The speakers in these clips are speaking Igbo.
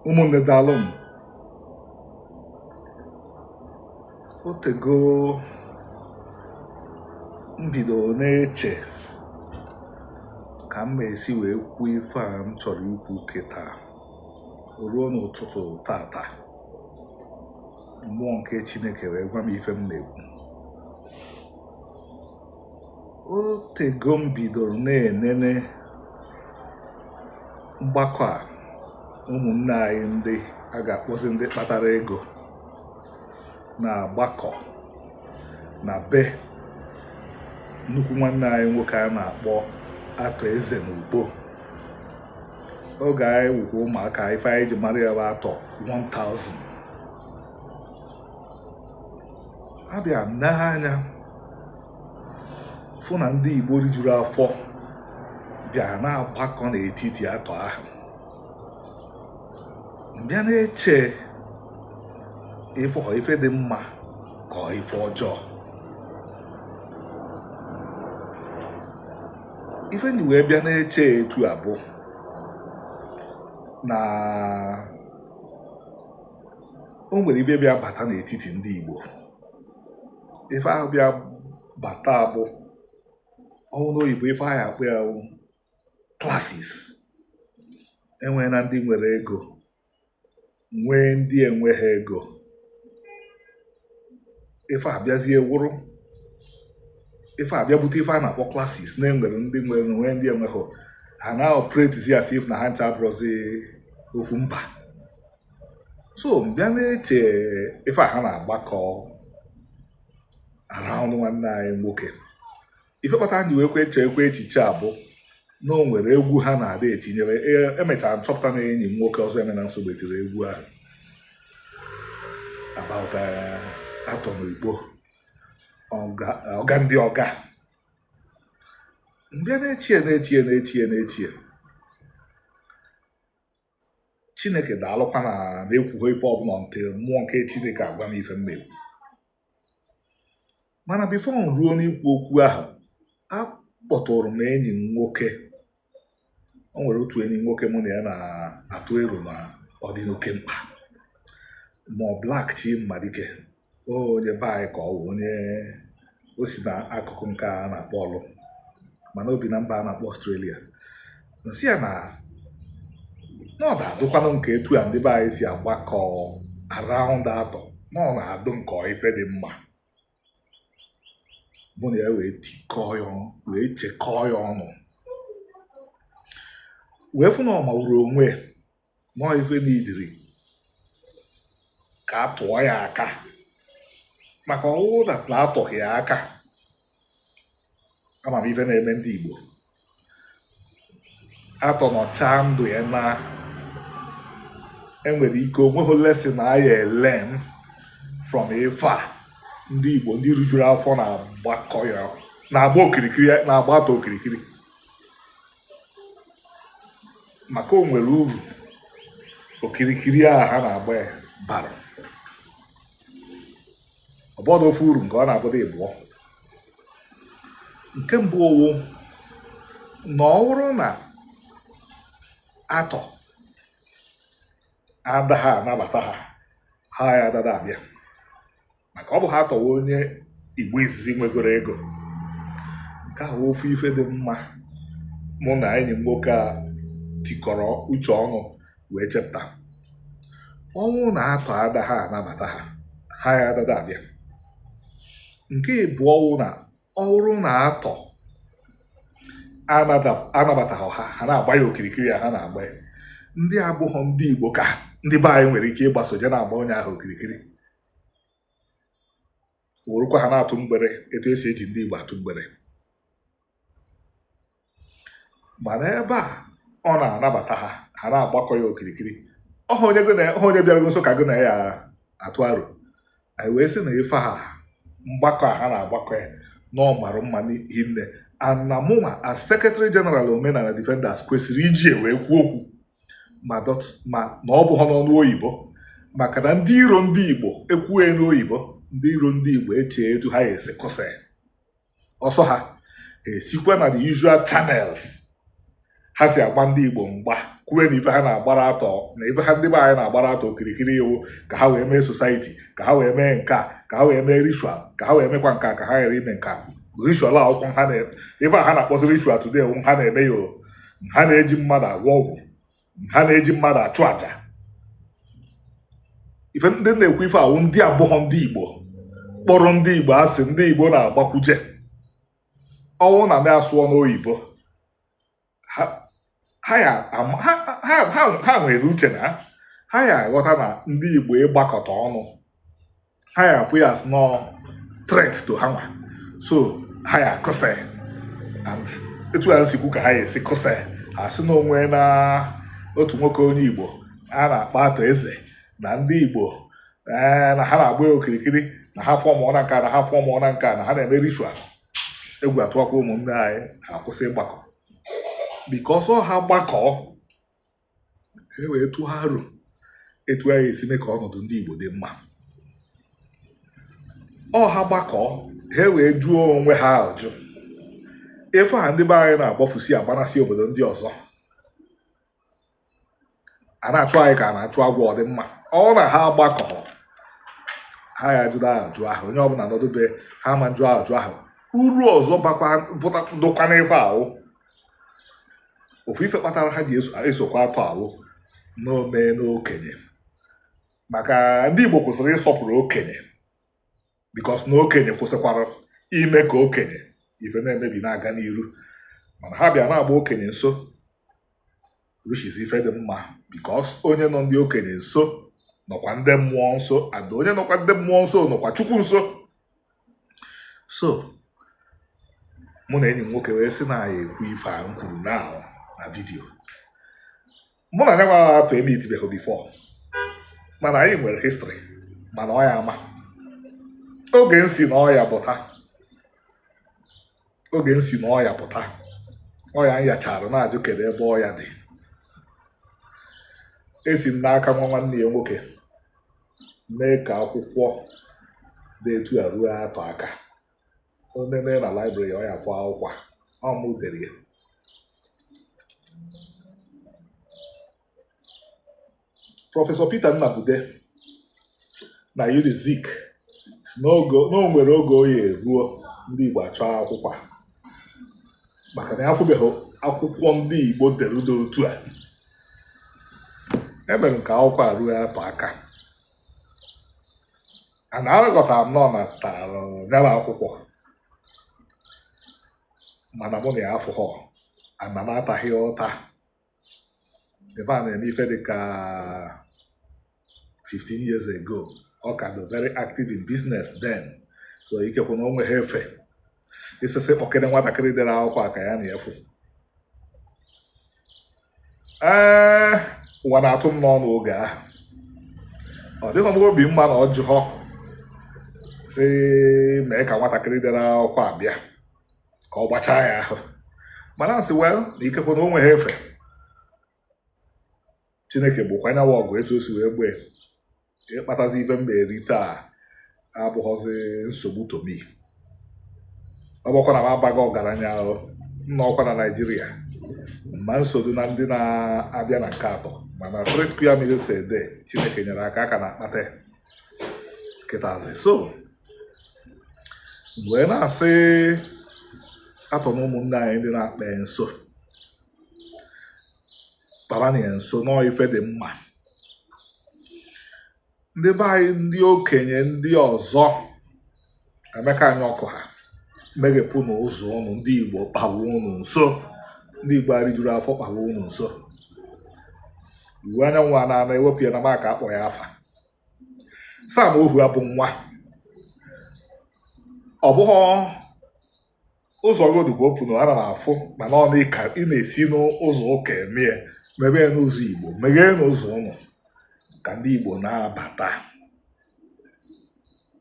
ụmụnne daalụ m otego m bido na-eche ka m esi wee kwuo ife a m chọrọ ikwu kịta o ruo n'ụtụtụ tata mmụọ nke chineke wee gwa m ife m na-ekwu otego m bidoro na-enene mgbakọ a ụmụnne anyị ndị a ga-akpọzi ndị kpatara ego na-agbakọ na be nnukwu nwanne anyị nwoke a na-akpọ Arthur Eze na Ukpo oge anyị wukwa ụmụaka ife anyị ji mara ya bụ Arthur 1000 abịa m nee anya fụ na ndị Igbo rijuru afọ bịa na-agbakọ n'etiti Arthur ahụ m bịa na-eche if ọ ife dị mma ka ọ ife ọjọọ ife m ji wee bịa na-eche etu a bụ na o nwere ife bịa bata n'etiti ndị Igbo ife ahụ bịa bata abụ ọ wụ n'oyibo ife a ya-akpọ ya classes enwee na ndị nwere ego nwee ndị enweghị ego ife a bịazie wụrụ ife a bịa bute ife a na-akpọ classes na e nwere ndị nwere nwee ndị enweghị ha na-operatezi as if na ha ncha abụrọzi ofu mba so m bịa na-eche ife a ha na-agbakọ around nwanne anyị nwoke ife kpata m ji wee kwe chee kwe echiche a bụ na o nwere egwu ha na-ada etinyere e- emechara m chọpụta na enyi m nwoke Ọzọemena Nsugbe tiri egwu ahụ about eh, Arthur n'Igbo ọga ndị ọga m bịa na-echie na-echie na-echie na-echie chineke daalụkwa na m ekwughị ife ọbụla until mmụọ nke chineke agwa m ife m ga-ekwu mana before m ruo n'ikwu okwu ahụ akpọtụrụ m enyi m nwoke o nwere otu enyi nwoke mụ na ya na-atụ ero na ọ dị n'oke mkpa ma ọ black chi mmadike onye be anyị ka ọ wụ onye o si na akụkụ nke a na-akpọ Orlu mana o bi na mba a na-akpọ Australia m sị ya na na ọ na-adụkwanụ m ka etu a ndị be anyị si agbakọ around Arthur na ọ na-adụ m ka ife dị mma mụ na ya wee tikọọ ya ọnụ wee chekọọ ya ọnụ wee fụ na ọ mawuru onwe ya na ife n'idiri ka a tụọ ya aka maka ọ wụ na atụghị ya aka ama m ife na-eme ndị Igbo Arthur nọchaa ndụ ya na e nwere ike o nweghị lesson a ya-elearn from ife a ndị Igbo ndị rijuru afọ na-agbakọ ya na-agba okirikiri na-agba Arthur okirikiri maka o nwere uru okirikiri a ha na-agba ya bara ọ bụdụ ofu uru nke ọ na-abụdị ịbụọ nke mbụ ọ wụ na ọ bụrụ na Arthur adaha anabata ha ha ya adada abịa maka ọ bụha Arthur wụ onye igbo izizi nwegoro ego nke wụ ofu ife dị mma mụ na enyi m nwoke a tikọrọ uche ọnụ wee chepụta ọ wụ na Arthur adaha anabata ha ha ya adada abịa nke ịbụọ ọ wụ na ọ wụrụ na Arthur anabataghị ha ha na-agba ya okirikiri a ha na-agba ya ndị abụghọ ndị igbo ka ndị be anyị nwere ike ịgbaso je na-agba onye ahụ okirikiri werekwa ha na-atụ mgbere etu e si eji ndị Igbo atụ mgbere mana ebe a ọ na-anabata ha ha na-agbakọ ya okirikiri ọ wụ onye gị na ọ wụ onye bịara gị nso ka gị na ya atụ aro anyị wee sị na ife ha mgbakọ a ha na-agbakọ ya na ọ mara mma hinne and na mụnwa as secretary general omenala defenders kwesịrị iji wee kwuo okwu ma na ọ bụghị n'ọnụ oyibo maka na ndị iro ndị igbo e kwue n'oyibo ndị iro ndị igbo echee etu ha esi kụsa ọsọ ha esikwa na the usual channels ha si agba ndị igbo mgba kwue na ife ha na-agbara Arthur na ife a ndị be anyị na-agbara Arthur okirikiri wụ ka ha wee mee society ka ha wee mee nke a ka ha wee mee ritual ka ha wee mekwa nke a ka ha ghara ime nke a ritual akwụkwọ ha na ife a ha na-akpọzi ritual today ha na-eme ya ha na-eji mmadụ agwọ ọgwụ ha na-eji mmadụ achụ aja ife m ji na-ekwu ife a wụ ndị abụghọ ndị igbo kpọrọ ndị igbo asị ndị igbo na-agbakwuje ọ wụ na m asụọ n'oyibo ha nwere uche na ha ya aghọta na ndị igbo ịgbakọta ọnụ ha ya afụ ya as no threat to ha nwa so ha ya akụsa and etu ya nsikwu ka ha ya esi kụsa ha sị na o nweena otu nwoke onye igbo a na-akpọ Arthur Eze na ndị igbo eh, na ha na-agba ya okirikiri na ha fọmụ na nka na ha fọmụ na nka na ha na-eme ritual egwu atụwakwa ụmụnne anyị ha akwụsị ịgbakọ because ọ ha gbakọọ e wee tụọ aro etu anyị esi mee ka ọnọdụ ndị Igbo dị mma ọ ha gbakọọ ha wee jụọ onwe ha ajụ ife a ndị be anyị na-agbafusi agbanasị obodo ndị ọzọ a na-achụ anyị ka a na-achụ agwọ ọ dị mma ọ na ha gbakọ ha ya jụrụ ajụ ahụ onye ọbụla nọdụ be ha ma ajụ ajụ ahụ uru ọzọ dụkwa n'ife ahụ ofu ife kpatara ha ji esokwa Arthur wụ na o meena okenye maka ndị Igbo kwụsịrị ịsọpụrụ okenye because na okenye kwụsịkwara ime ka okenye ife na-emebi na-aga n'iru mana ha bịa na-agba okenye nso which is ife dị mma because onye nọ ndị okenye nso nọkwa ndị mmụọ nso and onye nọkwa ndị mmụọ nso nọkwa chukwu nso so mụ na enyi m nwoke wee sị na anyị ekwu ife a m kwuru na na video mụ na nya nwa Arthur emitibeghị before mana anyị nwere history mana ọ ya ama oge m si na ọya pụta oge m si na ọya pụta ọya m yachara na-ajụ kedu ebe ọya dị esi m n'aka nwa nwanne ya nwoke mee ka akwụkwọ dị etu a ruo Arthur aka o nene na library ọ ya afụ akwụkwọ a ọ mụ dere ya prọfesọ Peter Nnabude na Unizik sị na o nwere oge ọ ya eruo ndị Igbo achọọ akwụkwọ maka na ya afụbeghị akwụkwọ ndị Igbo dere dị otu a emere m ka akwụkwọ a ruo Arthur aka a na-aghọtara m na ọ natara nyara akwụkwọ mana mụ na ya afụghọ ana m ataghị ya ụta ife a na-eme ife dị ka 15 years ago ọ ka dị very active in business then so ikekwe na o nweghị efe isisi kpọkịrị nwatakịrị dere akwụkwọ a ka ya na ya fụ ee ụwa na-atụ m n'ọnụ oge ahụ ọ dịghị m obi mma na ọ jụghọ sị mee ka nwatakịrị dere akwụkwọ a bịa ka ọ gbachaa ya ahụ mana m sị well na ikekwe na o nweghị ife chineke bụkwa anyanwụ ọgụ etu o si wee gbee ịkpatazi ife m ga-eri taa abụghọzi nsogbu to me ọ bụkwa na m abaghị ọgaranya ahụ nna ọkwa na naijiria ma nsogbu na ndị na-abịa na nke atọ mana three square meals a day chineke nyere aka aka na-akpata ya kịtazi so wee na-asị atọ na ụmụnne anyị ndị na-akpa ya nso kpawanụ ya nso na ọ ife dị mma ndị be anyị ndị okenye ndị ọzọ emeka anyaọkụ ha meghepụnụ ụzọ ụnụ ndị igbo kpawa ụnụ nso ndị igbo erijuro afọ kpawa ụnụ nso iwuanyanwụ a na-ana ewepụ ya na maka akpọ ya afa Sam Ohuabunwa ọ bụghị ụzọ rodu bụ open o ana m afụ mana ọ dị ka ị na-esi n'ụzọ ụka eme ya mebe ya n'ụzọ igbo megheenụ ụzọ ụnụ ka ndị igbo na-abata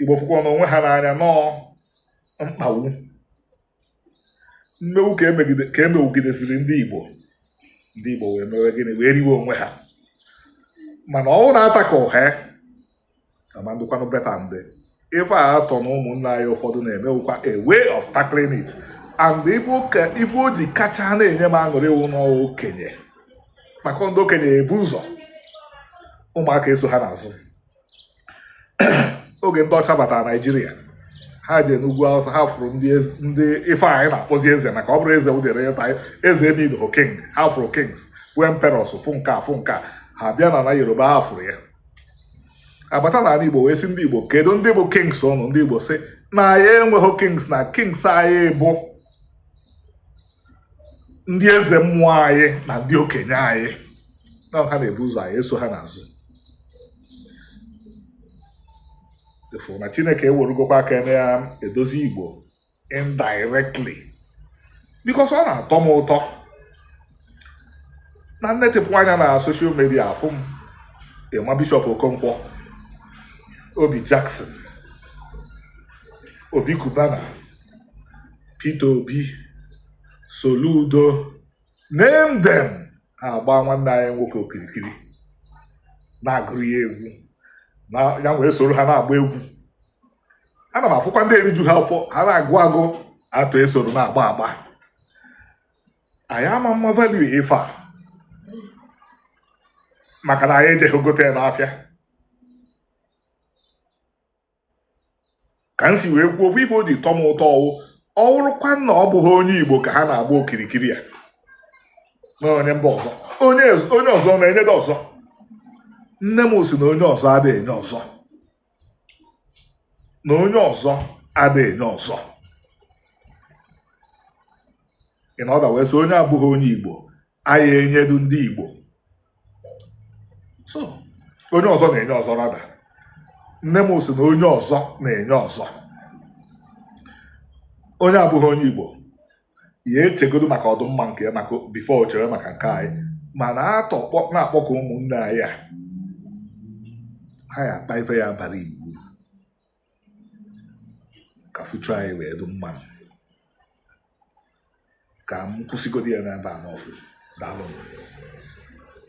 igbo fụkwanụ onwe ha n'anya na ọ mkpagbu mmegbu ka e megbugidesiri ndị Igbo ndị Igbo wee mewe gịnị wee riwe onwe ha mana ọ wụ na a tackle ya ama ndụkwanụ better and ife a atọ na ụmụnna anyị ụfọdụ na-eme wụkwa a way of tackling it and ife o ji kacha na-enye m aṅụrị wụ na ọ okenye maka ndị okenye ebu ụzọ ụmụaka eso ha n'azụ oge ndị ọcha batara naijiria ha jee n'ugwu awụsa ha fụrụ ndị ife anyị na-akpọzi eze maka ọ bụrụ eze ụdịrị ịta eze emir or king ha fụrụ kings fụ emperors fụ nke a fụ nke a ha bịa na na yoruba ha fụrụ ya abata n'ala igbo wee sị ndị igbo kedu ndị bụ kings ụnụ ndị igbo sị na ya enweghị kings na kings anyị bụ ndị eze mmụọ anyị na ndị okenye anyị na ha na-ebu ụzọ anyị eso ha n'azụ ị fụrụ na chineke eweregokwa aka nke ya edozi igbo indirectly because ọ na-atọ m ụtọ na m netịpụ anya na social media afụ m emma bishop okonkwo obi jackson obi kubana Peter Obi Soludo name them agba nwanne anyị nwoke okirikiri na-agụrụ ya egwu na ya wee soro ha na-agba egwu ana m afụkwa ndị eriju ha afọ ha na-agụ agụ atụ esoro na-agba agba anyị ama ama value ife a maka na anyị ejeghị gote ya n'afịa ka m si wee kwuo ofu ife o ji tọ m ụtọ ọ wụ ọ wụrụkwa na ọ bụghị onye igbo ka ha na-agba okirikiri ya na onye mba ọzọ onye onye ọzọ na-enyedị ọzọ nne m sị na onye ọzọ ada enye ọzọ na onye ọzọ ada enye ọzọ in other words onye abụghị onye igbo anaghị enyedu ndị Igbo so onye ọzọ na-enye ọzọ rather nne m sị na onye ọzọ na-enye ọzọ onye abụghị onye Igbo ya echegodo maka ọdụmma nke ya before o chere maka nke anyị mana atọ na-akpọkọ ụmụnne anyị a ha ya akpa ife ya bara Igbo ka future anyị wee dị mma ka m kwụsịgodi ya n'ebe a nọfụ daalụnụ